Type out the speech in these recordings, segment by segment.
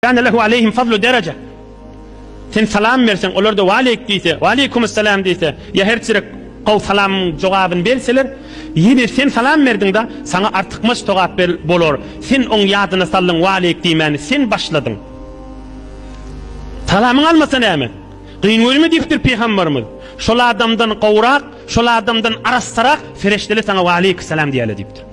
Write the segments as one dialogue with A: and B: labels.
A: Kana lehu aleyhim fazlu derece. Sen salam berseň, olar da waleýk diýse, waleýkumus salam diýse, ýa her çirek gowy salamyň jogabyny berseler, ýene sen salam berdiň-de, saňa artykmaç togap ber bolar. Sen oň ýadyna saldyň, waleýk diýmäni sen başladyň. Salamyňy almasa näme? Gyn welimi diýipdir Pygamberimiz. Şol adamdan gowrak, şol adamdan arassarak fereşteli saňa waleýk salam diýäle diýipdir.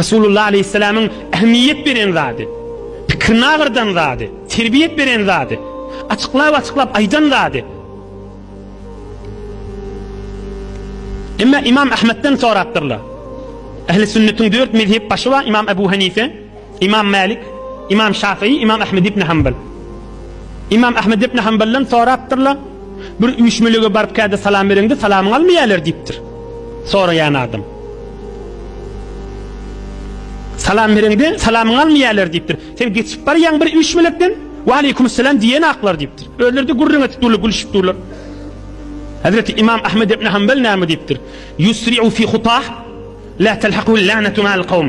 A: Resulullah aleýhissalamyň ähmiýet beren zady, pikirini agyrdan zady, terbiýet beren zady, açyklap-açyklap aýdan zady. Emma Imam Ahmetden sorapdyrlar. Ähli sünnetiň dört mezhep başy bar, Imam Ebu Hanife, Imam Mälik, Imam Şafyý, Imam Ahmed ibn Hanbal. Imam Ahmed ibn Hanbaldan sorapdyrlar. Bir üýşmelige baryp käde salam bereňde salamyňy almaýarlar diýipdir. Soraýan adam. Salam bereňde salamyňy almaýarlar diýipdir. Sen geçip barýaň bir üýşmelekden, "Wa aleykum salam" diýen aklar diýipdir. Özleri de gürrüň edip durlar, gülüşip durlar. Hazreti İmam Ahmed ibn Hanbal näme diýipdir? Yusri'u fi hutah la telhaquhu lanatu ma'al qawm.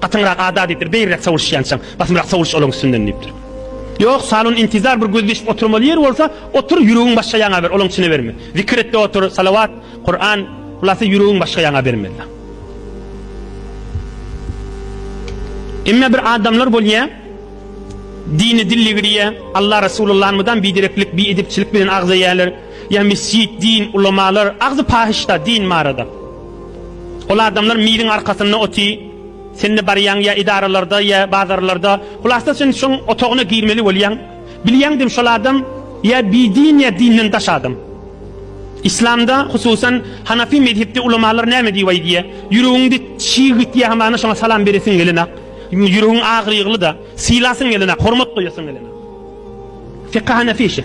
A: Gatyňrak ada diýipdir, beýriräk sowulşýançaň, basymrak sowuluş olaň üstünden diýipdir. Ýok, salon intizar bir gözleşip oturmaly ýer bolsa, otur, ýüregiň başga ýaňa ber, olaň içine berme. Zikir etde otur, salawat, Kuran, hulasa ýüregiň başga ýaňa bermeli. Emma bir adamlar bolýa, dini dilli girýä, Alla Resulullahny mydam bidereklik, biedepçilik bilen agzaýarlar. Ýa mesjid, din, ulamalar, agzy pahyşda din barada. Ol adamlar miziň arkasynda oty, sen-de barýaň ýa edaralarda ýa bazarlarda, hulasa sen şoň otagyna girmeli bolýaň. Bilýäňdim şol adam ýa bidin ýa dinden daş adam. Islamda, hususan Hanafi mezhepde ulamalar näme diýip aýdýa, ýüregiňde çig gitýä hamana şoňa salam beresiň gelenok, ýüregiň agyrygly-da, sylasyň gelenok, hormat goýasyň gelenok. Fika Hanafi işi.